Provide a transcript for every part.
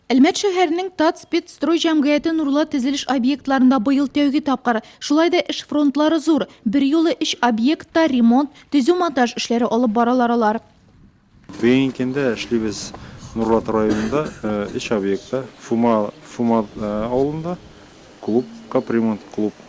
Әлмәт шәһәренең Татспецстрой җәмгыяте нурлы тезелеш объектларында быел тәүге тапкыр. Шулай да эш фронтлары зур. Бер юлы өч объектта ремонт, төзү-монтаж эшләре алып баралар алар. Бүгенге көндә эшлибез Нурлат районында өч объектта, Фума авылында клуб, капремонт клуб,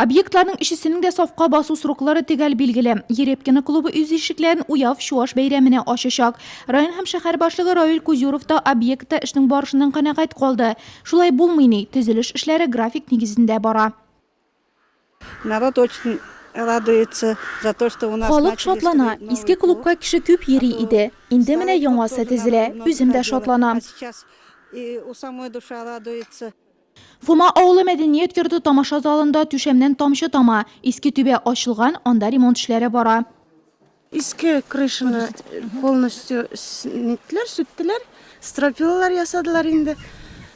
Объектларның өчесенең дә сафка басу сроклары төгәл билгеле. Ерепкино клубы үз ишекләрен Уяв Чуаш бәйрәменә ачачак. Район һәм шәһәр башлыгы Равил Кузюров та объектта эшнең барышыннан канәгать калды. Шулай булмый ни, төзелеш эшләре график нигезендә бара. Народ очень радуется за то, что у нас начали строить новый клуб. Халык шатлана. Иске клубка кеше күп йөри иде. Инде менә яңасы төзелә. Үзем дә шатланам. Фома авылы мәдәният йорты тамаша залында түшәмнән тамчы тама. Иске түбә ачылган, анда ремонт эшләре бара. Иске крышаны полностью ниттеләр, сүттеләр, стропилалар ясадылар инде.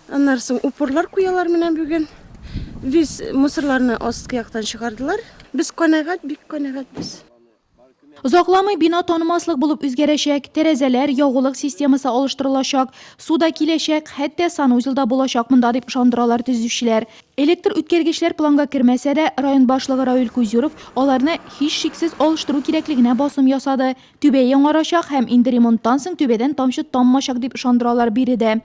Аннары соң упорлар куялар менә бүген. Весь мусорларны астки яктан чыгардылар. Без канәгать, бик канәгать без. Озакламый бина танымаслык булып үзгәрәчәк, тәрәзәләр, ягулык системасы алыштырылачак, су да киләчәк, хәтта санузел да булачак монда, дип ышандыралар төзүчеләр. Электр үткәргечләр планга кермәсә дә, район башлыгы Равил Кузюров аларны, һичшиксез, алыштыру кирәклегенә басым ясады. Түбә яңарачак һәм инде ремонттан соң түбәдән тамчы таммачак, дип ышандыралар биредә.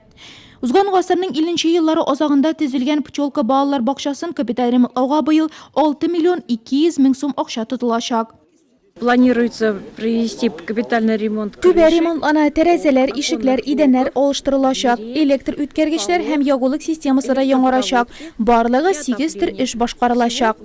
Узган гасырның 50 еллары азагында төзелгән Пчелка балалар бакчасын капиталь ремонтлауга быел 6 миллион 200 мең сум акча тотылачак. Планируется провести капитальный ремонт. Түбә ремонтлана, тәрәзәләр, ишекләр, идәннәр алыштырылачак, электр үткәргечләр һәм ягулык системасы да яңарачак. Барлыгы сигез төр эш башкарылачак.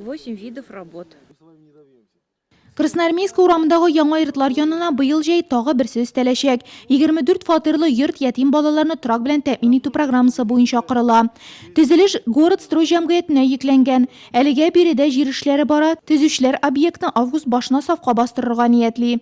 Красноармейск урамындагы яңа йортлар янына быел җәй тагы берсе өстәләчәк. 24 фатирлы йорт ятим балаларны торак белән тәэмин итү программасы буенча корыла. Төзелеш Городстрой җәмгыятенә йөкләнгән. Әлегә биредә җир эшләре бара, төзүчеләр объектны август башына сафка бастырырга ниятли.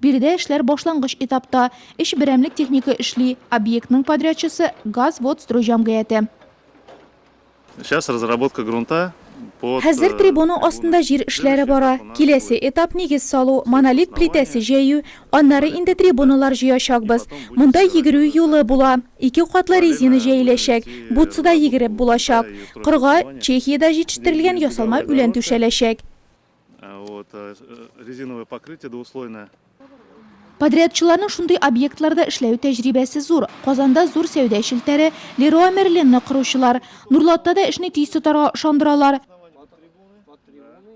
Биредә эшләр башлангыч этапта. Өч берәмлек техника эшли. Объектның подрядчысы, Газводстрой җәмгыяте. Сейчас разработка грунта под. Хәзер трибуна астында җир эшләре бара. Киләсе этап, нигез салу, монолит плитәсе җәю. Аннары инде трибуналар җыячакбыз. Монда йөгерү юлы була. Ике катлы резина җәеләчәк. Бутсыда йөгереп булачак. Кырга Чехиядә җитештерелгән ясалма үлән түшәләчәк. Резиновое покрытие двуслойное. Подрядчыларның шундый объектларда эшләү тәҗрибәсе зур. Казанда зур сәүдә челтәре Леруа Мерлинны коручылар. Нурлатта да эшне тиз тотарга ышандыралар.